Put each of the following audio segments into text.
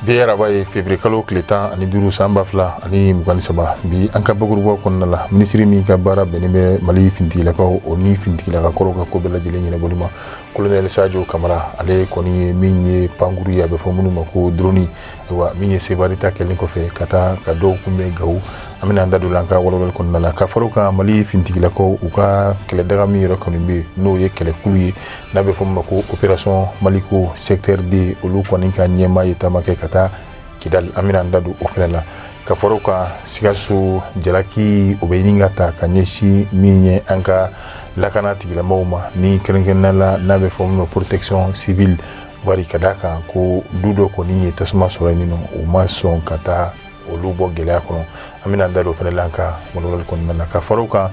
bi araba ye fevrier kalo tile tan ani duuru san ba fila ani mugan ni saba bi an ka bakurubaw kɔnɔna la minisiri min ka baara bɛnnen bɛ mali finitigilakaw o ni finitigilaka kɔrɔw ka ko bɛɛ lajɛlen ɲɛnabɔli ma kolonɛli sajo kamara ale kɔni ye min ye pankurun ye a bɛ fɔ minnu ma ko droni wa min ye sevare ta kɛlen kɔfɛ ka taa ka dɔw kunbɛn gawo an bɛna an da don an ka walawalali kɔnɔna la ka fara kan mali fintigilakaw u ka kɛlɛdaga min yɛrɛ kɔni bɛ n'o ye kɛlɛkulu ye n'a bɛ fɔ min ma ko operasɔn maliko secteur deux olu kɔni ka ɲɛmaa ye taama kɛ ka taa kidali an bɛna an da don o fana la ka fara kan sikaso jalaki o bɛ ɲini ka taa ka ɲɛsin min ye an ka lakana tigilamaaw ma ni kɛrɛnkɛrɛnnenya la n'a bɛ fɔ min ma protection civile wari ka d'a kan ko du dɔ kɔni ye tasuma sɔrɔ yen nɔ u ma sɔn ka taa olu bɔ gɛlɛya kɔnɔ an bɛna an da don o fana la an ka walawalali kɔnɔna na ka fara kan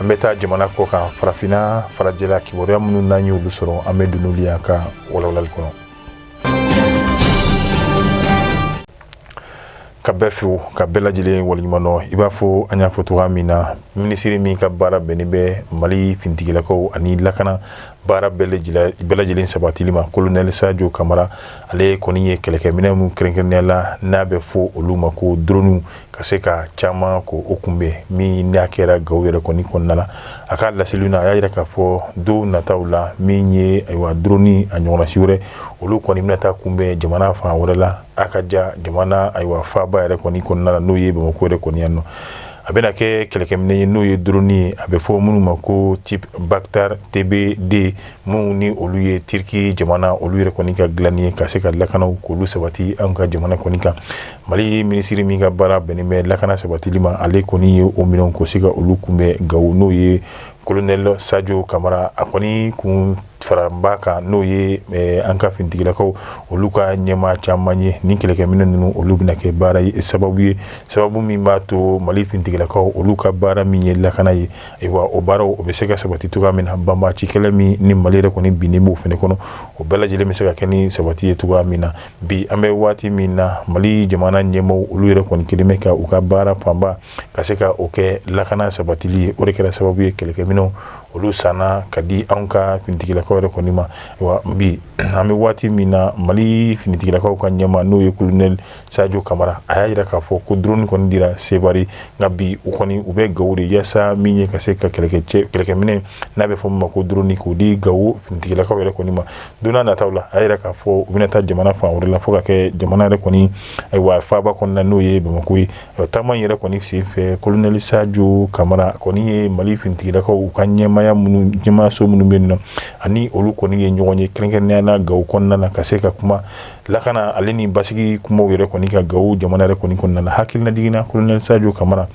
an bɛ taa jamana kɔ kan farafinna farajɛla kibaruya minnu n'an ye olu sɔrɔ an bɛ don n'olu ye an ka walawalali kɔnɔ ka bɛɛ fo ka bɛɛ lajɛlen waleɲumandɔn i b'a fɔ an y'a fɔ cogoya min na minisiri min ka baara bɛnnen bɛ mali fintigilakaw ani lakana baara bɛɛ lajɛlen sabatili ma kolonɛli sajo kamara ale kɔni ye kɛlɛkɛminɛ min kɛrɛnkɛrɛnnenya la n'a bɛ fɔ olu ma ko drone ka se ka caman ko o kunbɛn min n'a kɛra gawo yɛrɛ kɔni kɔnɔna la a ka laseliw na a y'a jira k'a fɔ don nataw la min ye ayiwa drone a ɲɔgɔnna si wɛrɛ olu kɔni bɛna taa kunbɛn jamana fan wɛrɛ la a ka ja jamana ayiwa faaba yɛrɛ kɔni kɔnɔna na n'o ye bamakɔ yɛrɛ kɔni yan nɔ a bɛna kɛ kɛlɛkɛminɛ ye n'o ye drone ye a bɛ fɔ minnu ma ko type Bactar TB2 minnu ni olu ye Turquie jamana olu yɛrɛ kɔni ka dilanni ye ka se ka lakanaw k'olu sabati an ka jamana kɔni kan Mali minisiri min ka baara bɛnnen bɛ lakana sabatili ma ale kɔni ye o minɛnw ko se ka olu kunbɛn gawo n'o ye colonel Sajo Kamara a kɔni kun faraba kan n'o ye eh, an ka finitigilakaw olu ka ɲɛmaa caman ye ni kɛlɛkɛminɛ ninnu olu bɛna kɛ baara ye sababu ye sababu min b'a to mali finitigilakaw olu ka baara min ye lakana ye ayiwa o baaraw o bɛ se ka sabati cogoya min na banbaanci kɛlɛ min ni mali yɛrɛ kɔni binnen b'o fana kɔnɔ o bɛɛ lajɛlen bɛ se ka kɛ ni sabati ye cogoya min na bi an bɛ waati min na mali jamana ɲɛmaa olu yɛrɛ kɔni kɛlen bɛ ka u ka baara fanba ka se ka o kɛ lakana sabatili ye o de kɛra sababu ye kɛlɛkɛminɛnw olu sanna ka di anw ka finitigilakaw yɛrɛ kɔni ma wa bi an bɛ waati min na mali finitigilakaw ka ɲɛmaa n'o ye kolonɛli sajo kamara a y'a jira k'a fɔ ko drone kɔni dira sebari nka bi u kɔni u bɛ gawo de yaasa min ye ka se ka kɛlɛkɛminɛn n'a bɛ fɔ min ma ko drone k'o di gawo finitigilakaw yɛrɛ kɔni ma don nataw la a y'a jira k'a fɔ u bɛna taa jamana fan wɛrɛ la fo ka kɛ jamana yɛrɛ kɔni ayiwa faaba kɔnɔna n'o ye bamakɔ ye taama yɛrɛ kɔni sen fɛ kolonɛli sajo kamara kɔni ye mali finitigilakaw u ka ɲɛmaayaso minnu bɛ yen nɔ ani olu kɔni ye ɲɔgɔn ye kɛrɛnkɛrɛnnenya la gawo kɔnɔna na ka se ka kuma lakana ale ni basigi kuma yɛrɛ kɔni kan gawo jamana yɛrɛ kɔni kɔnɔna na hakilinajigin na kolonɛli sajo kamara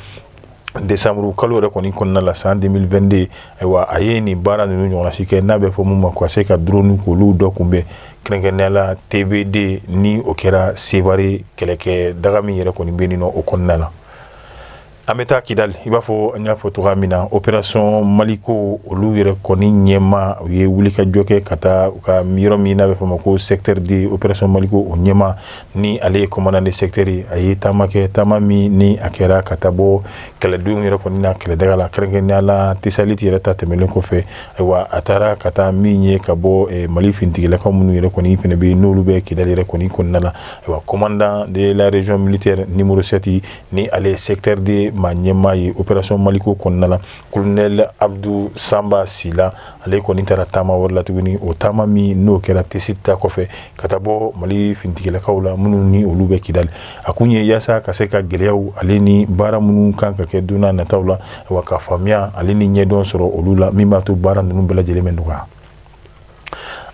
desanburu kalo yɛrɛ kɔni kɔnɔna la san 2022 ayiwa a ye nin baara ninnu ɲɔgɔnna si kɛ n'a bɛ fɔ min ma ka se ka drone k'olu dɔ kunbɛn kɛrɛnkɛrɛnnenya la TB2 ni o kɛra sebari kɛlɛkɛ daga min yɛrɛ kɔni bɛ o kɔnɔna na an bɛ taa kidali i b'a fɔ an y'a fɔ cogo min na opération maliko olu yɛrɛ kɔni ɲɛmaa u ye wulikajɔ kɛ ka taa u ka yɔrɔ min n'a bɛ fɔ ma ko secteur deux opération maliko o ɲɛmaa ni ale ye commandant de secteur ye a ye taama kɛ taama min ni a kɛra ka taa bɔ kɛlɛdenw yɛrɛ kɔni na kɛlɛdaga la kɛrɛnkɛrɛnnenya la tesaliti yɛrɛ ta tɛmɛnen kɔfɛ Ayiwa a taara ka taa min ye ka bɔ eh, mali finitigilakaw minnu yɛrɛ kɔni fɛnɛ bɛ n'olu bɛ kidali yɛrɛ kɔni kɔnɔna na ayiwa commandant de la région militaire numéro sept ni ale secteur deux maa ɲɛmaa ye opération maliko kɔnɔna na kolonɛli abudu sanba sila ale kɔni taara taama wɛrɛ la tuguni o taama min n'o kɛra tesiti ta kɔfɛ ka taa bɔ mali finitigilakaw la minnu ni olu bɛ kidali A kun ye yaasa ka se ka gɛlɛyaw ale ni baara minnu kan ka kɛ don nataw la wa ka faamuya ale ni ɲɛdɔn sɔrɔ olu la min b'a to baara ninnu bɛɛ lajɛlen bɛ nɔgɔya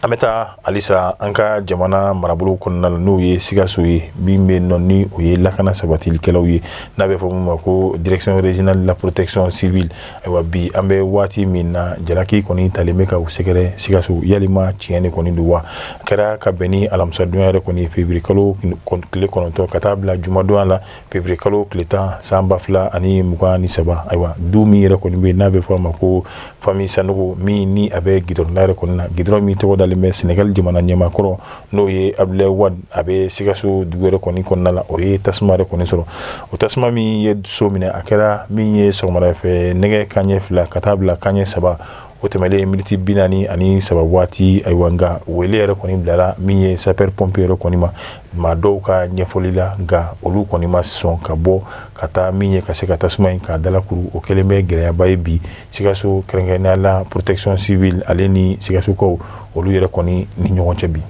an bɛ taa halisa an ka jamana marabolo kɔnɔna na n'o ye sikaso ye min bɛ nɔ ni o ye lakana sabatilikɛlaw ye n'a bɛ fɔ min ma ko direction régionale de la protection civile ayiwa bi an bɛ waati min na jalaki kɔni talen bɛ ka u sɛgɛrɛ sikaso yalima tiɲɛ de kɔni don wa a kɛra ka bɛn ni alamisadonya yɛrɛ kɔni février kalo tile kɔnɔntɔn ka taa bila jumadonya la février kalo tile tan san ba fila ani mugan ni saba ayiwa du min yɛrɛ kɔni bɛ n'a bɛ fɔ a ma ko famille sanogo min ni a bɛ gidɔrɔn da yɛrɛ kɔni na gidɔrɔn min tɔgɔ dalen bɛ senegali jamana ɲɛmaa kɔrɔ n'o ye abudulayi wadi a bɛ sikaso dugu yɛrɛ kɔni kɔnɔna la o ye tasuma yɛrɛ kɔni sɔrɔ o tasuma min ye so minɛ a kɛra min ye sɔgɔmada fɛ nɛgɛ kanɲɛ fila ka taa bila kanɲɛ saba o tɛmɛlen miniti bi naani ani saba waati ayiwa nka wele yɛrɛ kɔni bilara min ye sapeur pompier yɛrɛ kɔni ma maa dɔw ka ɲɛfɔli la nka olu kɔni ma sɔn ka bɔ ka taa min ye ka se ka tasuma in k'a dalakuru o kɛlen bɛ gɛlɛyaba ye bi Sikaso kɛrɛnkɛrɛnnenya la protection civile ale ni Sikasokaw olu yɛrɛ kɔni ni ɲɔgɔn cɛ bi.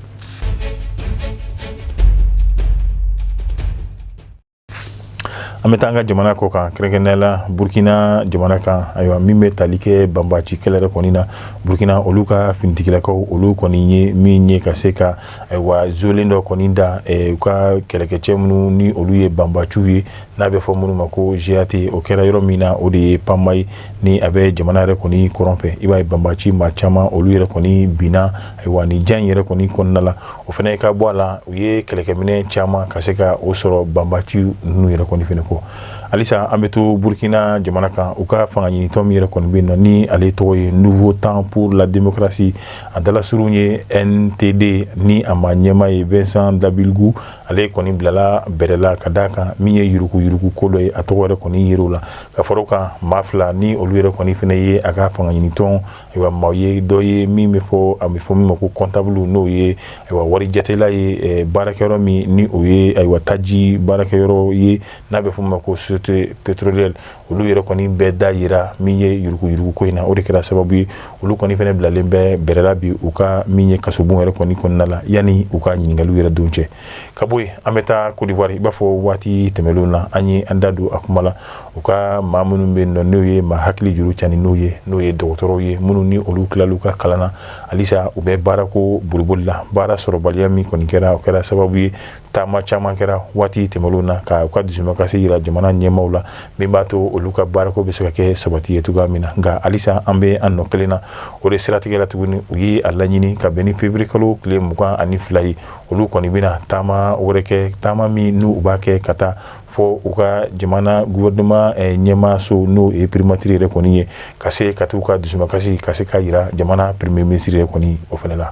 An bɛ taa an ka jamana kɔ kan kɛrɛnkɛrɛnnenya la Burkina jamana kan ayiwa min bɛ tali kɛ banbaaci kɛlɛ yɛrɛ kɔni na Burkina olu ka finitigilakaw olu kɔni ye min ye ka se ka ayiwa zolen dɔ kɔni da u ka kɛlɛkɛcɛ minnu ni olu ye banbaaciw ye n'a bɛ fɔ minnu ma ko GAT o kɛra yɔrɔ min na o de ye Pama ye ni a bɛ jamana yɛrɛ kɔni kɔrɔn fɛ i b'a ye banbaci maa caman olu yɛrɛ kɔni binna ayiwa nin jan yɛrɛ kɔni kɔnɔna la o fana ka bɔ a la u ye kɛlɛkɛminɛn caman ka se ka o sɔrɔ banbaci ninnu yɛrɛ kɔni fana kɔ halisa an bɛ to Burkina jamana kan u ka fanga ɲinitɔn min yɛrɛ kɔni bɛ yen nɔ ni ale tɔgɔ ye Nouveau Temps pour la Démocratie a dalasurun ye NTD ni a maa ɲɛmaa ye Vincent Dabilgou ale kɔni bilala bɛrɛ la ka d'a kan min ye yuruku yuruku ko dɔ ye a tɔgɔ yɛrɛ kɔni yer'o la ka fara o kan maa fila ni olu yɛrɛ kɔni fana ye a ka fanga ɲinitɔn ayiwa maa ye dɔ ye min bɛ fɔ a bɛ fɔ min ma ko comptable n'o ye ayiwa wari jatela ye baarakɛyɔrɔ min ni o ye ayiwa taji baarakɛyɔrɔ ye n'a bɛ fɔ ma ko société pétrolière olu yɛrɛ kɔni bɛɛ da yera min ye yurugu yurugu ko in na o de kɛra sababu ye olu kɔni fana bilalen bɛ bɛrɛ la bi u ka min ye kasobon yɛrɛ kɔni kɔnɔna la yanni u ka ɲininkaliw yɛrɛ don cɛ ka bɔ yen an bɛ taa kodiwari i b'a fɔ waati tɛmɛnlenw na an ye an da don a kuma la u ka maa minnu bɛ yen nɔ n'o ye maa hakili juru cani n'o ye n'o ye dɔgɔtɔrɔw ye minnu ni olu tilal'u ka kalan na halisa u bɛ baarako boliboli la baara sɔrɔbaliya min kɔni kɛra o kɛra sababu ye taama caman kɛra waati tɛmɛnlenw na ka u ka dusumakasi jira jamana ɲɛmaaw la min b'a to olu ka baarako bɛ se ka kɛ sabati ye cogoya min na nka halisa an bɛ an nɔ kelen na o de siratigɛ la tuguni u ye a laɲini ka bɛn ni février kalo tile mugan ani fila ye olu kɔni bɛna taama wɛrɛ kɛ taama min n'u b'a kɛ ka taa fɔ u ka jamana gouvernement ɲɛmaaso n'o ye primature yɛrɛ kɔni ye ka se ka taa u ka dusumakasi ka se ka jira jamana premier ministre yɛrɛ kɔni o fana la